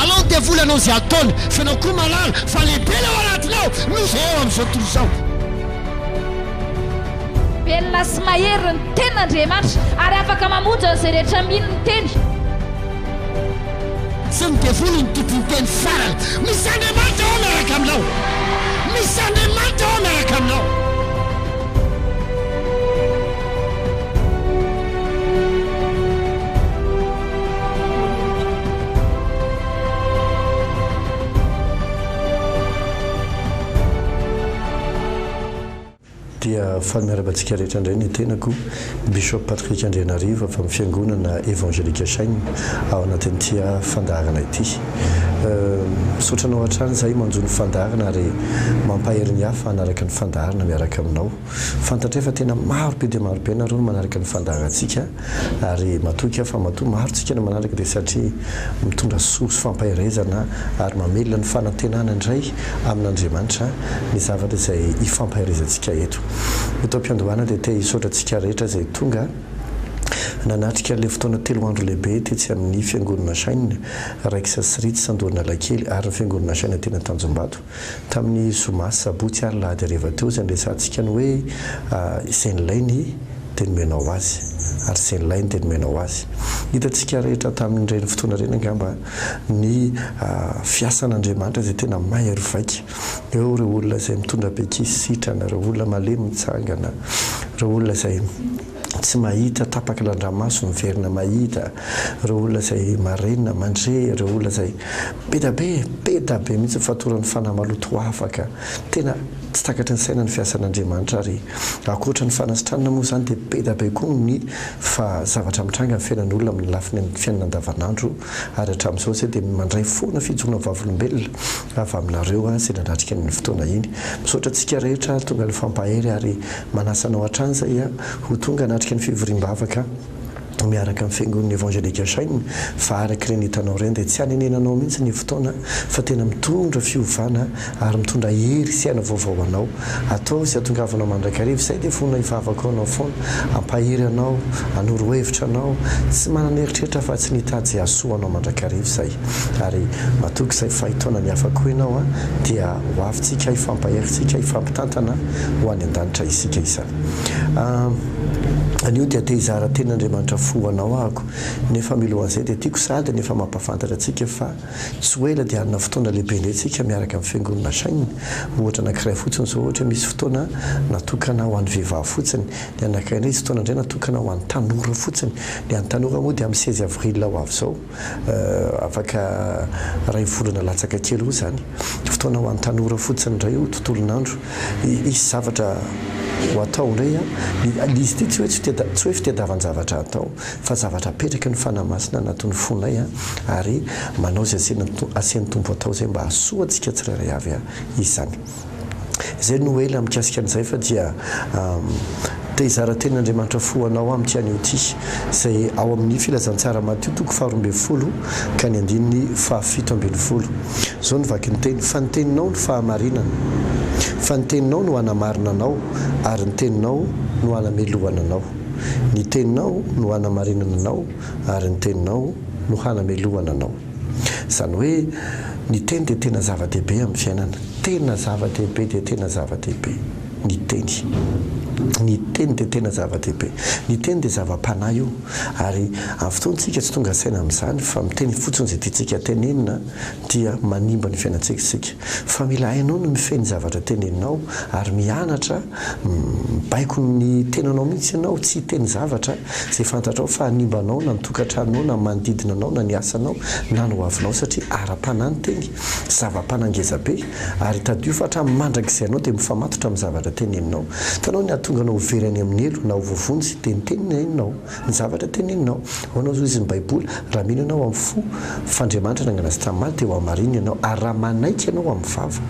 Alao ny devoly hanao izay ataony fa ianao koa mahalala fa lehibe ilay ao anatinao noho izay eo amin'izao tontolo izao. Velona sy mahery ny tenin'Andriamanitra ary afaka mamonjy an'izay rehetra mino ny teny. Tsy ny devoly no tompon'ny teny farany. Misy Andriamanitra ao miaraka aminao. Misy Andriamanitra ao miaraka aminao. Dia faly miarahaba antsika rehetra indray ny tenako, Bishop Patrick Andrianarivo avy amin'ny Fiangonana Evangelique Shine ao anatin'ity fandaharana ity. Misaotra anao hatrany izahay manjo ny fandaharana ary mampahery ny hafa hanaraka ny fandaharana miaraka aminao. Fantatray fa tena maro be dia maro be ianareo no manaraka ny fandaharantsika ary matoky aho fa matoa maro tsika no manaraka dia satria mitondra soa sy fampaherezana ary mamelona ny fanantenana indray amin'Andriamanitra ny zavatra izay hifampaherezantsika eto. Eto am-piandohana dia te hisaotra antsika rehetra izay tonga nanatrika ilay fotoana telo andro lehibe tetsy amin'ny Fiangonana Shine, Raikes sy Rits Andohan'Alakely ary ny Fiangonana Shine teny Antanjombato. Tamin'ny zoma sy sabotsy ary lahady hariva teo izay niresahantsika ny hoe izay nilainy dia nomena ho azy ary izay nilainy dia nomena ho azy. Hitantsika rehetra tamin'ireny fotoana ireny angamba ny fiasan'Andriamanitra izay tena mahery vaika. Eo ireo olona izay mitondra bekisy sitrana, ireo olona malemy mitsangana, ireo olona izay. tsy mahita tapaky randramaso miverina mahita ireo olona izay marenina mandre ireo olona izay beda be beda be mihitsy ny fatoran'ny fanahy maloto afaka tena tsy takatry ny saina ny fiasan'Andriamanitra ary ankoatra ny fanasitranana moa izany dia beda be koa ny fa zavatra mitranga ny fiainan'olona amin'ny lafiny amin'ny fiainana andavanandro ary hatramin'izao izay dia mandray foana fijoroana vavolombelona avy aminareo aho izay nanatrika an'iny fotoana iny misaotra antsika rehetra ary tonga nifampahery ary Manasa anao hatrany zay a ho tonga hanatrika ny fivoriam-bavaka miaraka amin'ny fiangonana Evangelique Shine fa araka ireny hitanao ireny dia tsy hanenenanao mihitsy ny fotoana fa tena mitondra fiovana ary mitondra hery sy aina vaovao ho anao. Ataovy izay hatongavanao mandrakariva izay dia vonona hivavaka ho anao foana, hampahery anao, hanoro hevitra anao, tsy manana eritreritra afa-tsy ny hitady izay hahasoa anao mandrakariva izay. Ary matoky izay fahay taona mihafa koa ianao a, dia ho avy tsika hifampahery tsika hifampitantana ho any andanitra isika isany. Ah anio dia te hizara teny Andriamanitra fo ho anao ahako, nefa milohan'izay dia tiako sady ny efa mampafantatra antsika fa tsy ho ela dia hanana fotoana lehibe indray tsika miaraka amin'ny fiangonana Shine, ohatra anakiray fotsiny izao ohatra misy fotoana natokana ho an'ny vehivavy fotsiny, ny anakiray indray hisy fotoana indray natokana ho an'ny tanora fotsiny, ny an'ny tanora moa dia amin'ny seize avril ho avy izao. afaka iray volana latsaka kely eo izany, fotoana ho an'ny tanora fotsiny indray io tontolon'andro, hisy zavatra ho atao indray an, ny izy ity tsy hoe tsy hoe fitadiavan-javatra atao fa zavatra apetraky ny Fanahy Masina anatin'ny fonay an, ary manao izay asain'ny Tompo atao izay mba hahasoa antsika tsirairay avy izany. Izay no ela mikasika an'izay fa dia te hizara teny Andriamanitra fo anao amiko ihany io ty izay ao amin'ny filazantsara Matio toko faha roa ambin'ny folo ka ny andininy faha fito ambin'ny folo izao no vaky ny teny fa ny teninao no fahamarinana fa ny teninao no hanamarina anao ary ny teninao no hanamelohana anao ny teninao no hanamarinana anao ary ny teninao no hanamelohana anao. Izany hoe ny teny dia tena zava-dehibe amin'ny fiainana. Tena zava-dehibe dia tena zava-dehibe ny teny. Ny teny dia tena zava-dehibe. Ny teny dia zava-panahy io ary amin'ny fotoantsika tsy tonga saina amin'izany fa miteny fotsiny izay tiantsika tenenina dia manimba ny fiainantsika isika. Fa mila hainao ny mifehy ny zavatra teneninao ary mianatra Mibaiko ny tenanao mihitsy ianao, tsy hiteny zavatra izay fantatrao fa hanimba anao na ny tokantranonao na ny manodidina anao na ny asanao na ny hoavinao satria ara-panahy ny teny, zava-panahy ngeza be ary tadidio fa hatramin'ny mandrakizay ianao dia mifamatotra amin'ny zavatra teneninao. Hitanao ny hahatonga anao ho very any amin'ny helo na ho voavonjy dia ny teninao. Ny zavatra teneninao. Ho anao izao izy ny Baiboly, raha mino ianao amin'ny fo fa Andriamanitra nangana azy tamin'ny maty dia ho hamarinina ianao, ary raha manaiky ianao amin'ny vava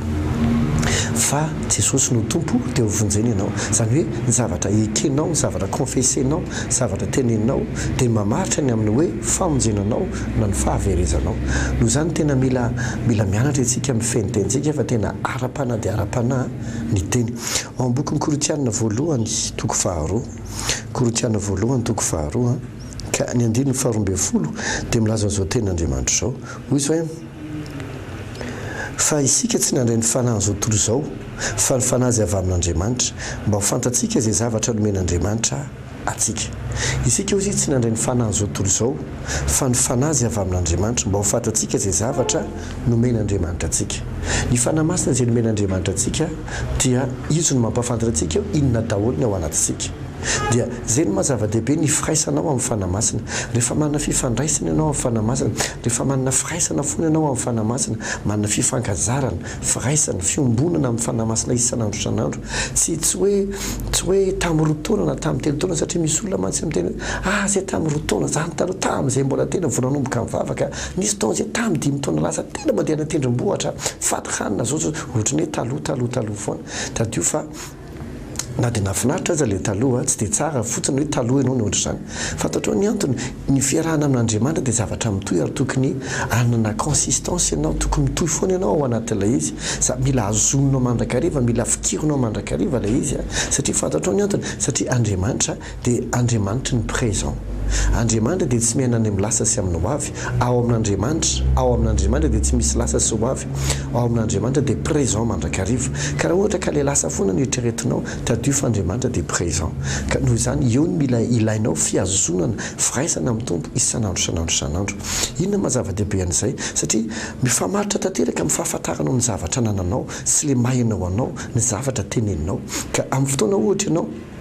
fa Jesosy no Tompo dia ho vonjena ianao. Izany hoe ny zavatra ekenao, ny zavatra confessenao, zavatra teneninao dia mamaritra ny amin'ny hoe famonjena anao na ny fahaverezanao. Noho izany tena mila mila mianatra isika amin'ny fenitentsika fa tena ara-panahy dia ara-panahy ny teny. Ao amin'ny bokin'ny Korintianina voalohany toko faharoa. Korintiana voalohany toko faharoa ka ny andininy faharoa ambin'ny folo dia milaza an'izao tenin'Andriamanitra izao, hoy izy hoe, Fa isika tsy nandray ny fanahin'izao tontolo izao, fa ny fanahy izay avy amin'Andriamanitra, mba ho fantatsika izay zavatra nomen'Andriamanitra antsika. Isika, hoy izy, tsy nandray ny fanahin'izao tontolo izao, fa ny fanahy izay avy amin'Andriamanitra, mba ho fantatsika izay zavatra nomen'Andriamanitra antsika. Ny fanahy masina izay nomen'Andriamanitra antsika dia izy no mampahafantatra antsika eo inona daholo ny ao anatintsika. Dia izay no maha zava-dehibe ny firaisanao amin'ny Fanahy Masina. Rehefa manana fifandraisana ianao amin'ny Fanahy Masina, rehefa manana firaisana foana ianao amin'ny Fanahy Masina, manana fifankazarana, firaisana, fiombonana amin'ny Fanahy Masina isan'andro isan'andro, tsy tsy hoe tsy hoe tamin'ny roa taona na tamin'ny telo taona satria misy olona mantsy miteny hoe, ah zay tamin'ny roa taona zany taloha tamin'izay mbola tena vao nanomboka nivavaka, nisy fotoana izay tamin'ny dimy taona lasa tena mandeha any an-tendrombohitra, fady hanina, zao zao. Ohatran'ny hoe taloha taloha taloha foana. Tadidio fa na dia nahafinaritra aza ilay taloha, tsy dia tsara fotsiny hoe taloha ianao nihoatra izany. Fantatrao ny antony? Ny fiarahana amin'Andriamanitra dia zavatra mitohy ary tokony hanana consistance ianao, tokony mitohy foana ianao ao anatin'ilay izy. Za, mila azonao mandrakariva, mila fikirinao mandrakariva ilay izy, satria fantatrao ny antony? Satria Andriamanitra. dia Andriamanitry ny présent. Andriamanitra dia tsy miaina any amin'ny lasa sy amin'ny hoavy. Ao amin'Andriamanitra, ao amin'Andriamanitra dia tsy misy lasa sy hoavy. Ao amin'Andriamanitra dia présent mandrakariva. Ka raha ohatra ka ilay lasa foana no eritreretinao, tadidio fa Andriamanitra dia présent. Ka noho izany, eo no mila ilainao fihazonana, firaisana amin'ny Tompo isan'andro isan'andro isan'andro. Inona no maha zava-dehibe an'izay? Satria mifamaritra tanteraka amin'ny fahafantaranao ny zavatra anananao sy ilay maha enao anao ny zavatra teneninao. Ka amin'ny fotoana ohatra ianao.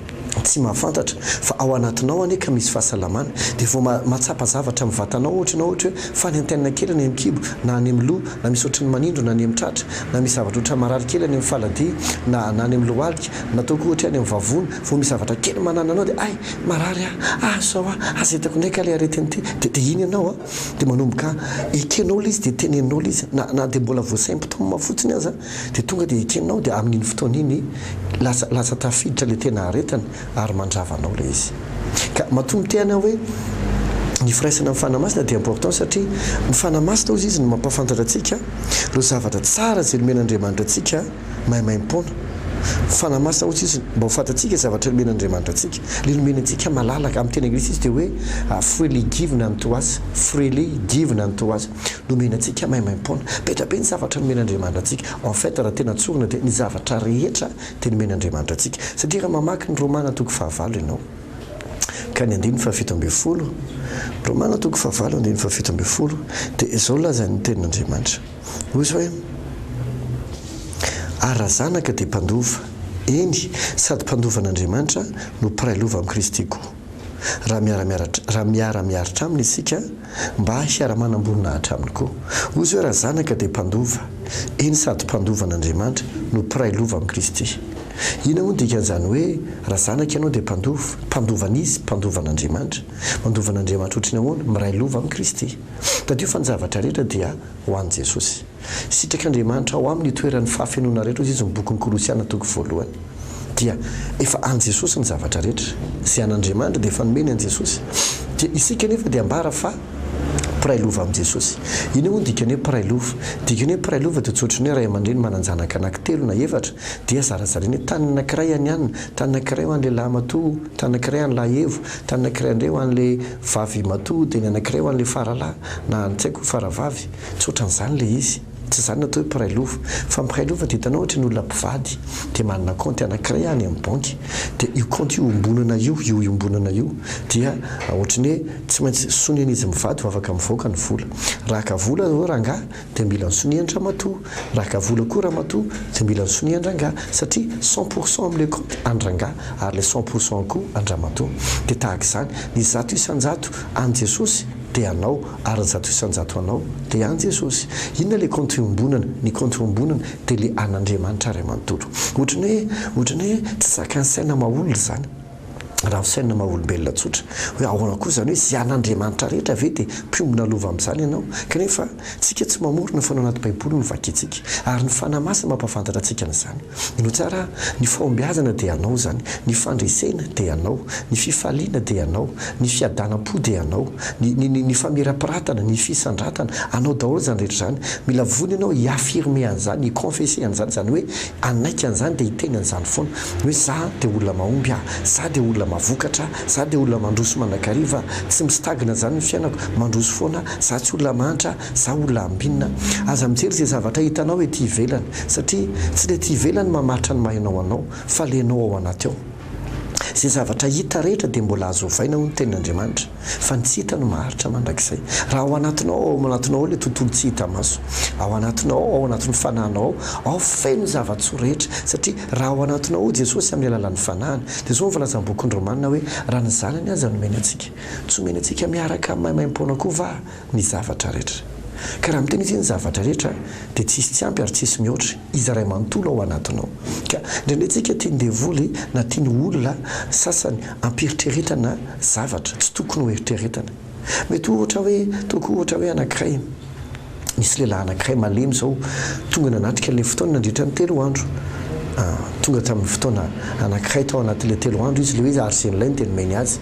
tsy mahafantatra fa ao anatinao anie ka misy fahasalamana dia vao mahatsapa zavatra amin'ny vatanao ohatra ianao ohatra hoe faly antenina kely any amin'ny kibo na any amin'ny loha na misy ohatrin'ny manindro na any amin'ny tratra na misy zavatra ohatran'ny marary kely any amin'ny faladia na na any amin'ny lohalika na ataoko ohatra hoe any amin'ny vavony vao misy zavatra kely manana anao dia hay marary aho aza izao aho aza hitako indray kah ilay aretina ity dia dia iny ianao an dia manomboka ekenao ilay izy dia teneninao ilay izy na na dia mbola vao symptômes fotsiny aza Dia tonga dia ekenao dia amin'iny fotoana iny lasa lasa tafiditra ilay tena aretiny ary mandrava anao ilay izy. Ka matoa miteny aho hoe ny firaisana amin'ny Fanahy Masina dia important satria ny Fanahy Masina hozy izy no mampahafantatra antsika ireo zavatra tsara izay nomen'Andriamanitra antsika maimaim-poana. Ny Fanahy Masina hozy izy mba ho fantatsika zavatra nomen'Andriamanitra antsika. Ilay nomeny antsika malalaka, amin'ny teny anglisy izy dia hoe freely given unto us, freely given unto us. Nomena antsika maimaim-poana. Be dia be ny zavatra nomen'Andriamanitra antsika. En fait, raha tena tsorina dia ny zavatra rehetra dia nomen'Andriamanitra antsika. Satria raha mamaky ny Romana toko fahavalo ianao ka ny andininy fahafito ambin'ny folo, Romana toko fahavalo andininy fahafito ambin'ny folo, dia izao lazain'ny tenin'Andriamanitra. Hoy izy hoe, Ary raha zanaka dia mpandova, eny, sady mpandovan'Andriamanitra no mpiray lova amin'i Kristy koa. raha miara-miaratra raha miara-miaritra aminy isika mba hiara-manam-boninahitra aminy koa. Hoy izy hoe, Raha zanaka dia mpandova, eny sady mpandova an'Andriamanitra no mpiray lova amin'i Kristy. Inona moa ny dikan'izany hoe raha zanaka ianao dia mpandova? Mpandova an'iza? Mpandova an'Andriamanitra. Mandova an'Andriamanitra ohatry ny ahoana? Miray lova amin'i Kristy. Tadidio fa ny zavatra rehetra dia ho an'i Jesosy. Sitrak'Andriamanitra ao aminy itoeran'ny fahafenoana rehetra hoy izy ny bokin'ny Kolosiana toko voalohany dia efa an'i Jesosy ny zavatra rehetra, izay an'Andriamanitra dia efa nomeny an'i Jesosy dia isika anefa dia ambara fa mpiray lova amin'i Jesosy. Inona moa ny dikan'ny hoe mpiray lova? Dikan'ny hoe mpiray lova dia tsy ohatran'ny hoe ray aman-dreny manan-janaka anaky telo na efatra dia zarazarainy hoe tany anakiray an'i Anna, tany anakiray ho an'ilay lahimatoa, tany anakiray an'i lahiEvo, tany anakiray indray ho an'ilay vavimatoa dia ny anakiray ho an'ilay faralahy na tsy haiko faravavy. Tsotra an'izany ilay izy. Tsy izany no atao hoe mpiray lova. Fa mpiray lova dia hitanao ohatry ny olona mpivady dia manana kaonty anankiray any amin'ny banky. Dia io kaonty iombonana io, io iombonana io dia ohatry ny hoe tsy maintsy soniany izy mivady vao afaka mivoaka ny vola. Raha haka vola izao rangahy dia mila ny sonian-dramatoa. Raha haka vola koa ramatoa dia mila ny sonian-drangahy. Satria cent pour cent amin'ilay kaonty an-drangahy ary ilay cent pour cent koa an-dramatoa. Dia tahaka izany, ny zato isan-jato an'i Jesosy dia anao. Ary zato isan-jato anao dia an Jesosy. Inona ilay kaonty iombonana? Ny kaonty iombonana dia ilay an Andriamanitra Ray manontolo. Ohatran'ny hoe, ohatran'ny hoe tsy zakan'ny saina maha-olona izany. Raha ho saina maha-olombelona tsotra, hoe ahoana koa izany hoe izay an Andriamanitra rehetra ve dia mpiombona lova amin'izany ianao? Kanefa, tsika tsy mamorona foana anaty baiboly no vakintsika. Ary ny Fanahy Masina mampahafantatra antsika an'izany. No tsara, ny fahombiazana dia anao zany, ny fandresena dia anao, ny fifaliana dia anao, ny fiadanam-po dia anao, ny ny ny famirapiratana, ny fisandratana, anao daholo zany rehetra zany, mila vonona ianao hi affirmer an'zany, hi confesser an'zany, zany hoe hanaiky an'zany dia hiteny an'zany foana hoe za dia olona mahomby ah, za dia olona mavokatra ah, za dia olona mandroso mandrakariva ah, tsy mistagna zany ny fiainako, mandroso foana ah, za tsy olona mahantra, Za olona ambinina, aza mijery ze zavatra hitanao ety ivelany satria tsy ny ety ivelany mamaritra ny maha enao anao fa le enao ao anaty ao. Ze zavatra hita rehetra dia mbola azo ovaina hoy ny tenin' Andriamanitra fa ny tsy hita no maharitra mandrakizay. Raha ao anatinao ao ao anatinao ao le tontolo tsy hita maso, ao anatinao ao ao anatin'ny fanahinao ao ao feno zava-tsoa rehetra satria raha ao anatinao ao Jesosy amin'ny alalan'ny fanahiny dia zao ny voalazan'ny bokin'ny Romana hoe raha ny zanany aza nomeny antsika tsy omeny antsika miaraka amin'ny maimaimpoana koa va ny zavatra rehetra. Ka raha miteny izy hoe ny zavatra rehetra dia tsisy tsy ampy ary tsisy mihoatry Izy Ray manontolo ao anatinao. Ka indraindray tsika tian'ny devoly na tian'ny olona sasany ampieritreretana zavatra tsy tokony ho eritreretana. Mety ohatra hoe toa koa ohatra hoe anankiray, nisy lehilahy anankiray malemy izao tonga nanatrika ilay fotoana nandritra ny telo andro. Tonga tamin'ny fotoana anankiray tao anatin'ilay telo andro izy ilay hoe ary izay nilay no dia nomeny azy.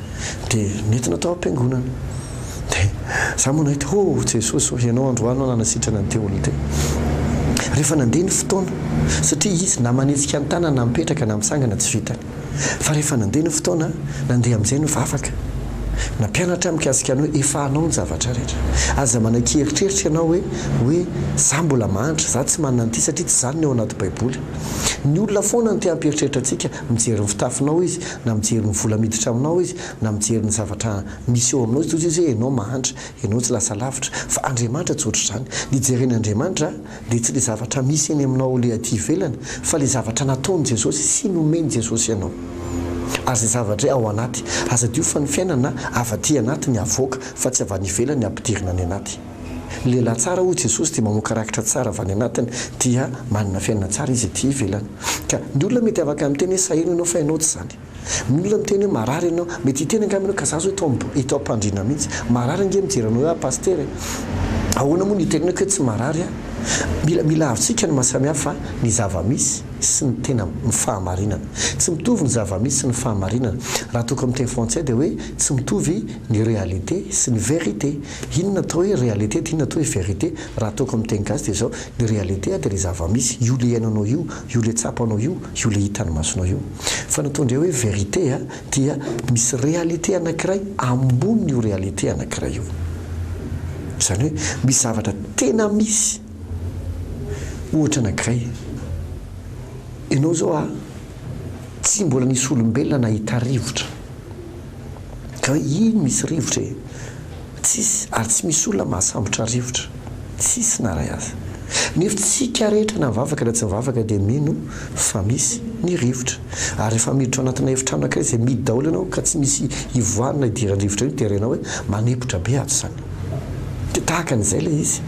dia nentina tao am-piangonana. Dia za moa nahita, oh Jesosy ô, Ianao androany no nanasitrana ny tehony teo. Rehefa nandeha ny fotoana, satria izy na manetsika ny tanany na mipetraka na misangana tsy vitany. Fa rehefa nandeha ny fotoana, nandeha amin'izay ny vavaka. Nampianatra ahy mikasika ny hoe efa anao ny zavatra rehetra. Aza manakia eritreritra ianao hoe, hoe za mbola mahantra, za tsy manana an'ity satria tsy izany ny ao anaty baiboly. Ny olona foana no te-hampieritreritra antsika Mijery ny fitafinao izy, na mijery ny vola miditra aminao izy, na mijery ny zavatra misy eo aminao izy, toy izay hoe ianao mahantra, ianao tsy lasa lavitra. Fa Andriamanitra tsy ohatr'izany. Ny jeren' Andriamanitra dia tsy ilay zavatra misy eny aminao ilay aty ivelany, fa ilay zavatra nataon'i Jesosy sy nomen'i Jesosy anao. Ary izay zavatra ao anaty. Aza adino fa ny fiainana avy aty anaty ny avoaka, fa tsy avy any ivelany ampidirina any anaty. Ny lehilahy tsara, hoy Jesosy, dia mamoaka rakitra tsara avy any anatiny, dia manana fiainana tsara izy ety ivelany. Ka ny olona mety afaka miteny hoe saheno ianao fa ianao tsy izany. Ny olona miteny hoe marary ianao, mety hiteny angamba ianao, ka za izao eto eto am-pandriana mihitsy, marary ange mijery anao eo aho Pasitera e! Ahoana moa no hitenenako hoe tsy marary aho? Mila mila ahavontsika ny mahasamihafa ny zava-misy sy ny tena fahamarinana. Tsy mitovy ny zava-misy sy ny fahamarinana. Raha atoko amin'ny teny frantsay dia hoe tsy mitovy ny réalité sy ny vérité. Inona atao hoe réalité dia inona atao hoe vérité? Raha ataoko amin'ny teny gasy dia izao, ny réalité dia ilay zava-misy, io ilay iainanao io, io ilay tsapanao io, io ilay hitan'ny masonao io. Fa ny atao indray hoe vérité dia misy réalité anankiray ambonin'io réalité anankiray io. Izany hoe misy zavatra tena misy, ohatra anankiray, ianao izao a, tsy mbola nisy olombelona nahita rivotra. ka iny misy rivotra e! Tsisy ary tsy misy olona mahasambotra rivotra, tsisy na ray aza. Nefa tsika rehetra na mivavaka na tsy mivavaka dia mino fa misy ny rivotra. Ary rehefa miditra ao anatina efitrano ankiray izay mihidy daholo ianao ka tsy misy ivoahany na idiran'ny rivotra io dia renao hoe manempotra be ato izany. Dia tahaka an'izay ilay izy.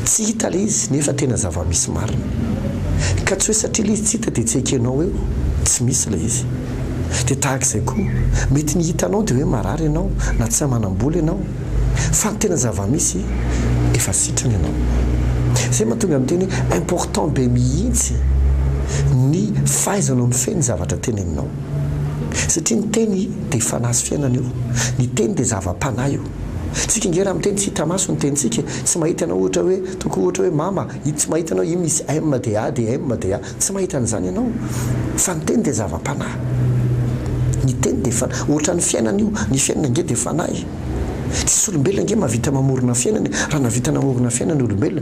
Tsy hita ilay izy nefa tena zava-misy marina. Ka tsy hoe satria ilay izy tsy hita dia tsy ekenao eo, tsy misy ilay izy. Dia tahaka izay koa, mety ny hita anao dia hoe marary ianao na tsy manam-bola ianao, fa ny tena zava-misy efa sitrana ianao. Izay mahatonga ny teny hoe important be mihitsy ny fahaizanao mifehy ny zavatra teneninao. Satria ny teny dia fanahy sy fiainana io, ny teny dia zava-panahy io. Tsika nge raha miteny tsy hita maso ny tenintsika, tsy mahita ianao ohatra hoe tokoa ohatra hoe mama, tsy mahita ianao io misy M dia A dia M dia A, tsy mahita an'izany ianao fa ny teny dia zava-panahy, ny teny dia fanahy, ohatran'ny fiainana io, ny fiainana nge dia fanahy, tsisy olombelona nge mahavita mamorona fiainana e, raha nahavita namorona fiainana ny olombelona,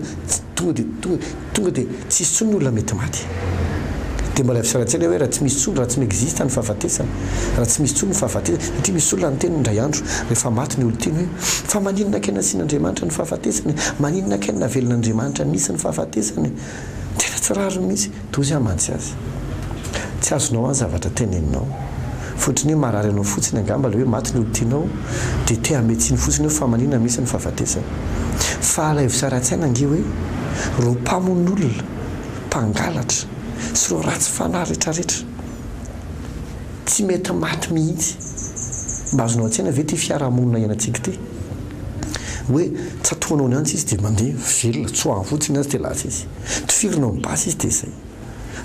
tonga dia tonga. Tonga dia tsy hisy intsony ny olona mety maty. Dia mbola hisaora an-tsaina hoe raha tsy misy intsony, raha tsy mi-existe ny fahafatesana, raha tsy misy intsony ny fahafatesana. Satria misy olona niteny indray andro rehefa maty ny olon-tiany hoe, fa maninona kay nasian'Andriamanitra ny fahafatesana e? Maninona kay no navelon'Andriamanitra nisy ny fahafatesana e? Tena tsy rariny mihitsy. Toa izay hamantsy azy. Tsy azonao an zavatra teneninao. Fotony hoe marary anao fotsiny angamba le hoe maty ny olon-tianao de te hanome tsiny fotsiny eo fa maninona mihitsy ny fahafatesana. Fa alaivo sy ara-tsaina ange hoe reo mpamonolona, mpangalatra sy reo ratsy fanahy retraretra tsy mety maty mihitsy. Mba azonao an-tsaina ve ty fiarahamonina ianantsika ty hoe tsatohanao ny antsy izy de mandeha velona, tsoahany fotsiny ny azy de lasa izy. Tifirinao ny basy izy de zay.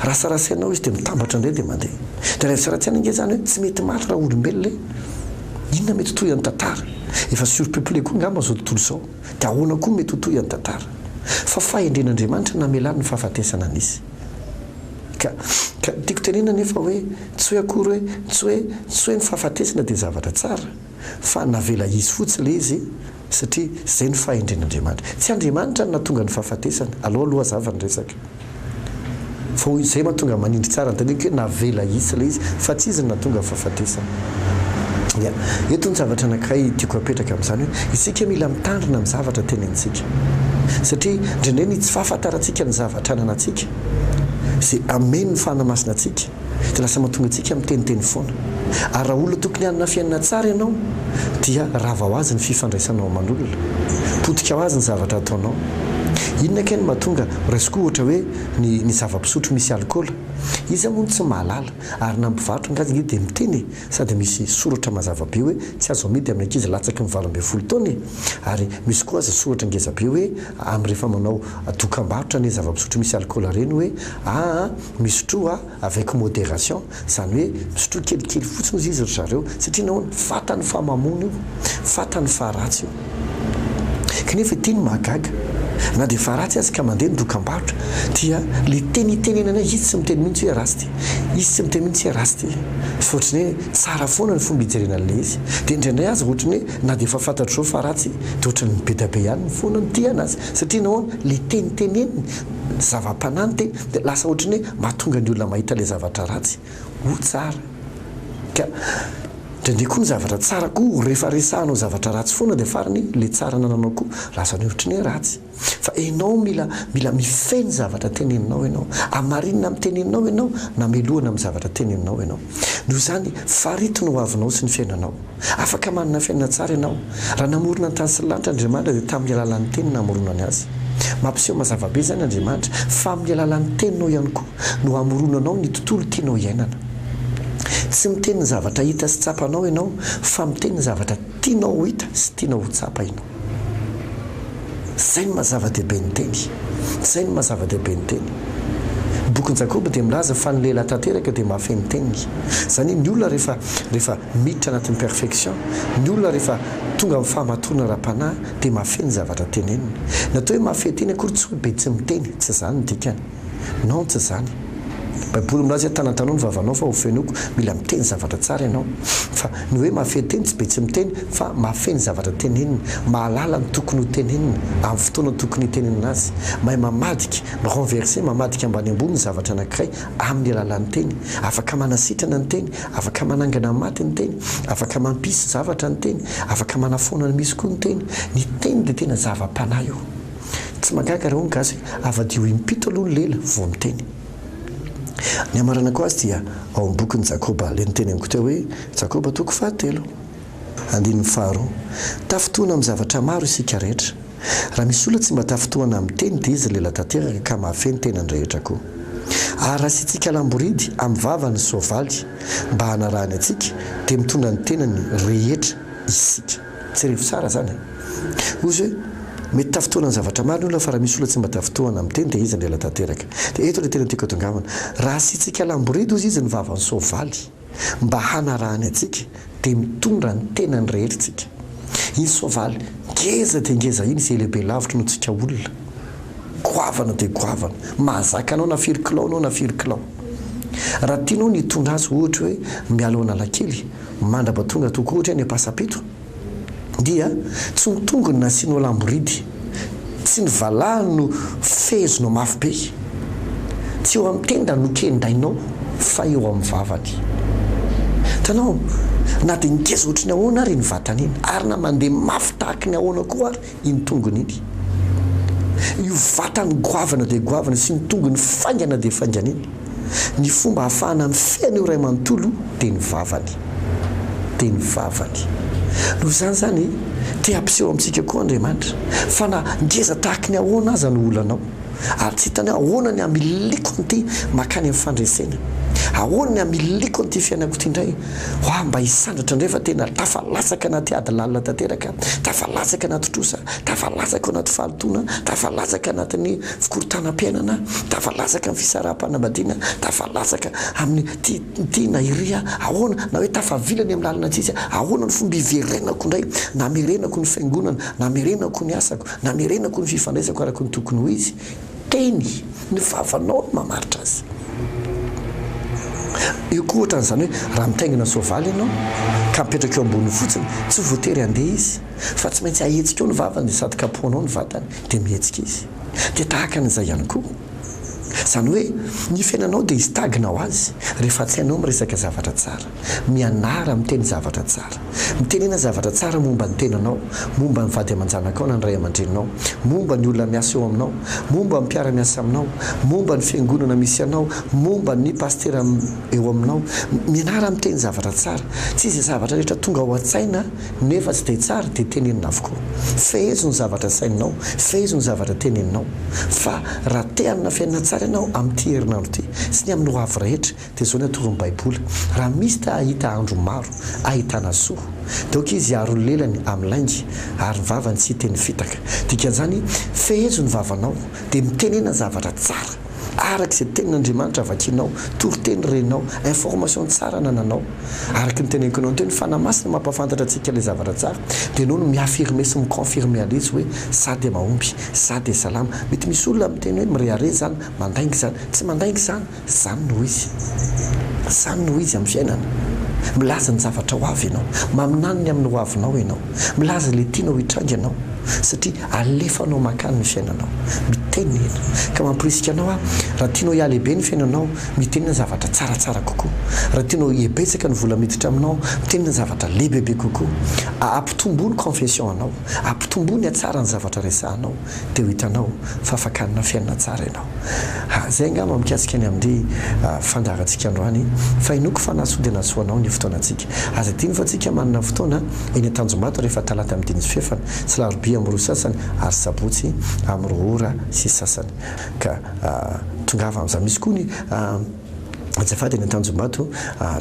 Raha sarasainao izy dia mitambatra indray dia mandeha. Dia raha sarasaina ange izany hoe tsy mety maty raha olombelona e! Inona mety toy an'ny tantara? Efa surpeuplé koa angamba izao tontolo izao. Dia ahoana koa mety ho toy an'ny tantara? Fa fahendren'Andriamanitra ny namelany ny fahafatesana nisy. Ka, ka tiako tenenina anefa hoe tsy hoe akory hoe, tsy hoe, tsy hoe ny fahafatesana dia zavatra tsara. fa navela hisy fotsiny le izy satria zay no fahendren'Andriamanitra. Tsy Andriamanitra no nahatonga ny fahafatesana, alao aloha hazava ny resaka. Fa hoy zay mahatonga manindry tsara ny teniko hoe navela hisy le izy fa tsy izy no nahatonga ny fahafatesana. Ya. Eto ny zavatra anankiray tiako apetraka amin'izany hoe isika mila mitandrina amin'ny zavatra tenenitsika. Satria indraindray ny tsy fahafantarantsika ny zavatra ananantsika, ze amen'ny fanahy masina antsika, dia lasa mahatonga antsika miteniteny foana. Ary raha olona tokony hanana fiainana tsara ianao dia rava ho azy ny fifandraisanao aman'olona. Potika ho azy ny zavatra ataonao. Inona kay no mahatonga, raisiko ohatra hoe ny ny zava-pisotro misy alikaola. Iza moa no tsy mahalala? Ary na ny mpivarotra angaha aza ange dia miteny e! Sady misy soratra mazava be hoe tsy azo amidy amin'ny ankizy latsaky ny valo ambin'ny folo taona e! Ary misy koa aza soratra ngeza be hoe amin'ny rehefa manao dokambarotra an'ireny zava-pisotro misy alikaola ireny hoe aa Misotroa avec modération, izany hoe misotroa kelikely fotsiny ozy izy ry zareo, satria nahoana? Fantany fa mamono io, fantany fa ratsy io. Kanefa ity no mahagaga, na dia efa ratsy aza ka mandeha ny dokam-barotra, dia ilay teny itenenana izy tsy miteny mihitsy hoe ratsy ity, izy tsy miteny mihitsy hoe ratsy ity, fa ohatran'ny hoe tsara foana ny fomba ijerena an'ilay izy. Dia indraindray aza ohatran'ny hoe na dia efa fantatro izao fa ratsy, dia ohatran'ny be dia be ihany ny foana no tia an'azy, satria nahoana? Ilay teny teneniny, zava-panahy ny teny. Dia lasa ohatry ny hoe mahatonga ny olona mahita ilay zavatra ratsy ho tsara. Ka indraindray koa ny zavatra tsara koa rehefa resahanao zavatra ratsy foana dia farany ilay tsara anananao koa lasa ny ohatry ny hoe ratsy. Fa ianao mila mila mifehy ny zavatra teneninao ianao. Hamarinina amin'ny teneninao ianao na melohina amin'ny zavatra teneninao ianao. Noho izany, farito ny hoavinao sy ny fiainanao. Afaka manana fiainana tsara ianao. Raha namorona ny tany sy ny lanitra Andriamanitra dia tamin'ny alalan'ny Teniny namoronany azy. Mampiseho mazava be izany Andriamanitra fa amin'ny alalan'ny Teninao ihany koa no amoronanao ny tontolo tianao hiainana. Tsy miteny ny zavatra hita sy tsapanao ianao fa miteny ny zavatra tianao ho hita sy tianao ho tsapa ianao. Izay no maha-zava-dehibe ny teny. Izay no maha-zava-dehibe ny teny. Ny bokin'i Jakoba dia milaza fa ny lehilahy tanteraka dia mahafehy ny teniny. Izany hoe ny olona rehefa, rehefa miditra anatin'ny perfection, ny olona rehefa tonga amin'ny fahamatorana ara-panahy dia mahafehy ny zavatra teneniny. Ny atao hoe mahafehy teny akory tsy hoe be tsy miteny, tsy izany ny dikany. Non tsy zany. Baiboly milaza hoe tanatanoa ny vavanao fa ho fenoiko, mila miteny zavatra tsara ianao. Fa ny hoe mahafehy teny tsy be tsy miteny fa mahafehy ny zavatra tenenina, mahalala ny tokony ho tenenina amin'ny fotoana tokony hitenenana azy, mahay mamadika, mi-renverser, mamadika ambany ambony ny zavatra anankiray amin'ny alalan'ny teny. Afaka manasitrana ny teny, afaka manangana ny maty ny teny, afaka mampisy zavatra ny teny, afaka manafoana ny misy koa ny teny. Ny teny dia tena zava-panahy io. Tsy mahagaga raha hoy ny gasy hoe avadiho impito aloha ny lela vao miteny. Ny hamaranako azy dia ao amin'ny bokin'i Jakoba ilay niteny amiko teo hoe, Jakoba toko fahatelo, andininy faharoa. Tafintohina amin'ny zavatra maro isika rehetra. Raha misy olona tsy mba tafintohana amin'ny teny dia izy lela tanteraka ka mahafehy ny tenany rehetra koa. Ary raha asiantsika alam-boridy amin'ny vava ny soavaly mba hanarahany antsika dia mitondra ny tenany rehetra isika. Jereo tsara zany e! Ozy hoe mety tafintohana ny zavatra maro ny olona fa raha misy olona tsy mba tafintohana amin'ny teny dia izy no ela tanteraka. Dia eto ilay tena tiako atongavana, raha asiantsika alam-boridy ozy izy ny vavan'ny soavaly mba hanarahany antsika dia mitondra ny tenany rehetra isika. Iny soavaly ngeza dia ngeza iny izay lehibe lavitra noho tsika olona. Goavana dia goavana. Mahazaka anao na firy kilao anao na firy kilao. Raha tianao ny hitondra azy ohatra hoe miala ao Analakely, Mandraba tonga tokoa ohatry ny ampasapeto dia tsy ny tongony nasianao lamboridy, tsy ny valahany no fehezinao mafy be, tsy eo amin'ny tendany no kendainao fa eo amin'ny vavany. Hitanao, na dia ngeza ohatry ny ahoana ary iny vatany iny ary na mandeha mafy tahaky ny ahoana koa ary iny tongony iny, io vatany goavana dia goavana sy iny tongony faingana dia faingana iny, ny fomba ahafahana mifehy an'io ray manontolo io dia ny vavany. Dia ny vavany. Noho izany izany, te hampiseho amintsika koa Andriamanitra fa na ngeza tahaky ny ahoana aza no olanao, ary tsy hitany hoe ahoana ny hamiliko an'ity makany amin'ny fandresena? Ahoana ny hamiliko an'ity fiainako ity indray? Hoah, mba hisandratra indray fa tena tafalatsaka anaty ady lalina tanteraka aho, tafalatsaka anaty trosa, tafalatsaka ao anaty fahalotoana, tafalatsaka anatin'ny fikorontanam-piainana aho, tafalatsaka amin'ny fisaraham-panambadiana, tafalatsaka amin'ny ty, ty na iry aho, ahoana, na hoe tafavila any amin'ny lalana tsisy aho, ahoana no fomba hiverenako indray, namerenako ny fiangonana, namerenako ny asako, Namerenako ny fifandraisako araka ny tokony ho izy teny ny vavanao no mamaritra azy. Eo koa ohatra an'izany hoe raha mitaingina soavaly ianao ka mipetraka eo amboniny fotsiny tsy voatery handeha izy fa tsy maintsy ahetsika eo ny vavany sady kapohana ao ny vatany dia mihetsika izy. Dia tahaka an'izay ihany koa izany hoe ny fiainanao dia hisy tagina ho azy rehefa tsy hainao miresaka zavatra tsara. Mianara miteny zavatra tsara. Mitenena zavatra tsara momba ny tenanao, momba ny vady aman-janakao na ny ray aman-dreninao, momba ny olona miasa eo aminao, momba ny mpiara-miasa aminao, momba ny fiangonana misy anao, momba ny pasitera eo aminao. Mianara miteny zavatra tsara. Tsy izay zavatra rehetra tonga ao an-tsaina nefa tsy dia tsara dia tenenina avokoa. Fehezo ny zavatra asaininao, fehezo ny zavatra teneninao. Fa raha te hanana fiainana tsara ianao amin'ity herinandro ity sy ny amin'ny hoavy rehetra, Dia izao ny atorony baiboly, raha misy ta hahita andro maro ahitana soa, dia ok izy hiaro ny lelany amin'ny lainga, ary ny vavany tsy hiteny fitaka. Dikan'izany, fehezo ny vavanao, dia mitenena zavatra tsara, araka izay tenin'Andriamanitra vakinao, toriteny renao, information tsara anananao. Araka ny teneniko anao teo, ny Fanahy Masina mampahafantatra antsika ilay zavatra tsara, dia enao no mi-affirmer sy mi-confirmer an'izy hoe, za dia mahomby, za dia salama. Mety misy olona miteny hoe, mirehareha izany, mandainga izany. Tsy mandainga izany. Izany no izy. Izany no izy amin'ny fiainana. Milaza ny zavatra ho avy ianao. Maminany ny amin'ny hoavinao ianao. Milaza ilay tianao hitranga ianao, satria alefanao mankany ny fiainanao. Mitenena. Ka mamporisika anao aho, raha tianao hihalehibe ny fiainanao, mitenena zavatra tsaratsara kokoa. Raha tianao hihebetsaka ny vola miditra aminao, mitenena zavatra lehibebe kokoa. Ampitomboa ny confession anao. Ampitomboa ny hatsaran'ny zavatra resahanao. dia ho hitanao fa afaka hanana fiainana tsara ianao. Ha, izay angamba mikasika ny amin'ny fandaharantsika androany, fa hinoako fa nahasoa dia nahasoa anao ny fotoanantsika. Aza adino fa tsika manana fotoana eny Antanjombato rehefa talata amin'ny dimy sy fahefany, sy larobia amin'ny roa sasany, ary sabotsy amin'ny roa ora sy sasany. Ka tongava amin'izany. Misy koa ny. Azafady eny Antanjombato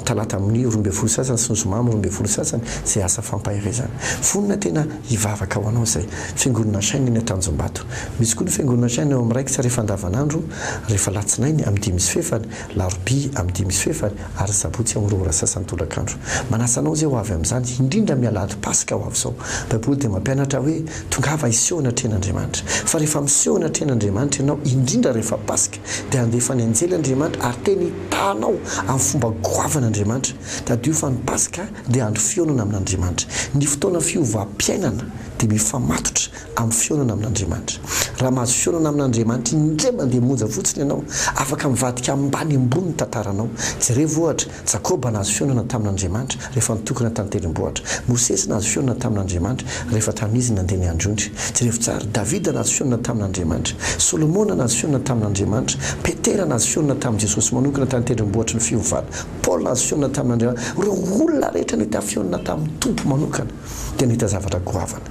talata amin'ny roa ambin'ny folo sasany sy ny zoma amin'ny roa ambin'ny folo sasany izay asa fampaherezana. Vonona tena hivavaka ho anao izay Fiangonana Shine eny Antanjombato. Misy koa ny Fiangonana Shine ao amin'ny raikitra rehefa andavanandro rehefa alatsinainy amin'ny dimy sy fefany, larobia amin'ny dimy sy fefany ary sabotsy amin'ny roa ora sasany tolakandro. Manasa anao izay ho avy amin'izany indrindra amin'ny alahady paska ho avy izao. Baiboly dia mampianatra hoe tongava hiseho anatrehan'Andriamanitra. Fa rehefa miseho anatrehan'Andriamanitra ianao indrindra rehefa paska dia handefa ny anjely Andriamanitra ary tena hitanao amin'ny fomba goavana Andriamanitra. Tadidio fa ny Paska dia andro fihaonana amin'Andriamanitra. Ny fotoana fiovam-piainana dia mifamatotra amin'ny fihaonana amin'Andriamanitra. Raha mahazo fihaonana amin'Andriamanitra indray mandeha monja fotsiny ianao, afaka mivadika ambaniambony ny tantaranao. Jerevo ohatra, Jakoba nahazo fihaonana tamin'Andriamanitra rehefa nitokona tan-tendrombohitra. Mosesy nahazo fihaonana tamin'Andriamanitra rehefa tamin'izy izy nandeha niandry ondry. Jerevo tsara, Davida nahazo fihaonana tamin'Andriamanitra. Solomona nahazo fihaonana tamin'Andriamanitra. Petera nahazo fihaonana tamin'i Jesosy manokana tany an-tendrombohitry ny fiovana. Paoly nahazo fihaonana tamin'Andriamanitra. Ireo olona rehetra nahita fihaonana tamin'ny Tompo manokana dia nahita zavatra goavana.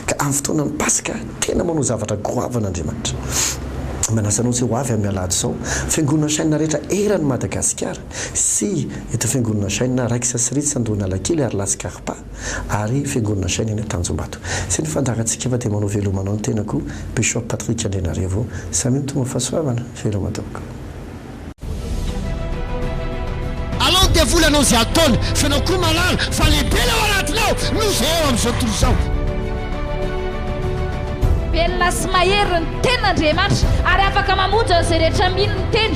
Ka amin'ny fotoanan'ny Paska, tena manao zavatra goavana Andriamanitra. Manasa anao tsy ho avy amin'ny Alahady izao. Fiangonana Shina rehetra eran'i Madagasikara. sy eto Fiangonana Jaina Raiksa sy Ritsa Andohanalakely ary La Scarpa ary Fiangonana Jaina eny Antanjombato. Izay ny fandaharantsika fa dia manao veloma anao ny tenako Bishop Patrick Andrianarivo. Samia mitombo fahasoavana. Veloma tompoko. Alao ny devoly hanao izay ataony fa ianao koa mahalala fa lehibe ilay ao anatinao noho izay eo amin'izao tontolo izao. Velona sy mahery ny tenin'Andriamanitra ary afaka mamonjy an'izay rehetra mino ny teny.